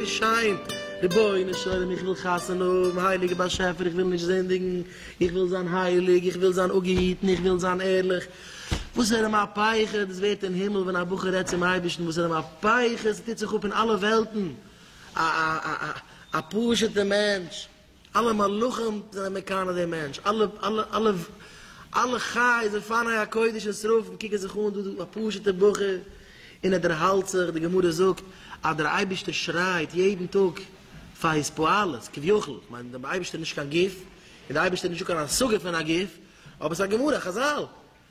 שיין רבונו של עולם איך וויל חתונה האבן הייליגער באשעפער איך וויל נישט זינדיגן איך וויל זיין הייליג איך וויל זיין אפגעהיטן איך וויל זיין ערליך וואס איז א מהפכה דאס ווערט אין הימל ווען א בחור רעדט צום אייבערשטן וואס איז א מהפכה עס טוט זיך אפ אין אלע וועלטן א א א א פשוט'ע מענטש אלע מלאכים זענען מקנא דעם מענטש, אלע אלע אלע חיות ופני הקודש און שרפים קוקן זיך אן דא א פשוט'ער בחור און ער דערהאלט זיך, די גמרא זאגט אז דער אייבערשטער שרייט יעדן טאג פאר היז פועלות, כביכול, כ'מיין דער אייבערשטער איז נישט קיין גוף, און דער אייבערשטער איז נישטא קיין השגה פון א גוף, אבער ס'איז א גמרא, חזל,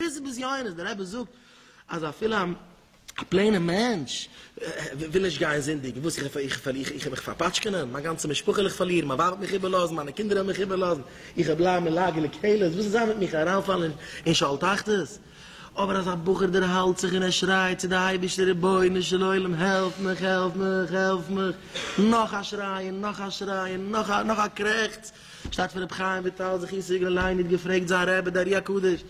דאס איז בזיונות, דער רבי זאגט אז אפילו א פלעינע מענטש וויל נישט גיין זינדיגן, וואס איך וועל מיך פארפאטשקענען, מיין גאנצע משפחה וועל איך פארלירן, מיין ווייב וועט מיך איבערלאזן, מיינע קינדער וועלן מיך איבערלאזן, איך וועל בלייבן אין לאגער לקללות, וואס איז זיין מיט מיך אריינפאלן אין שאול תחתית, אבער אז א בחור דערהאלט זיך און ער שרייט צו די אייבערשטער רבונו של עולם העלף מיך, העלף מיך, העלף מיך, נאך א שריי און נאך א שריי און נאך א קרעכץ, שטאט פון רבי חיים וויטאל זכות סיגלען לעיין איד געפרעגט זיין רבי די ארי הקדוש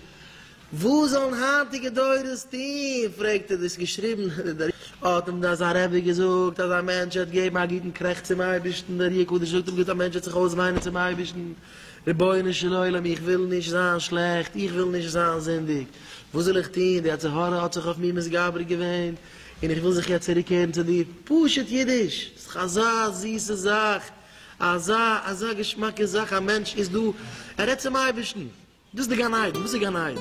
וואס זאלן היינטיגע דורות טוהן פרעגט ער דאס געשריבן די ארי האט אים דאן זיין רבי געזאגט אז א מענטש וועט געבן א גוטן קרעכץ צום אייבערשטן די ארי הקדוש זאגט אים גוט א מענטש וועט זיך אויסוויינען צום אייבערשטן רבונו של עולם איך וויל נישט זיין שלעכט איך וויל נישט זיין זינדיג וואס זאל איך טוהן די יצר הרע האט זיך אויף מיר מתגבר געווען און איך וויל זיך יעצט צוריק קערן צו דיר פשוט אידיש ס'דאך אזא זיסע זאך אזא אזא געשמאקע זאך א מענטש איז דא, ער רעדט צום אייבערשטן, דאס איז די גן עדן, וואס איז גן עדן?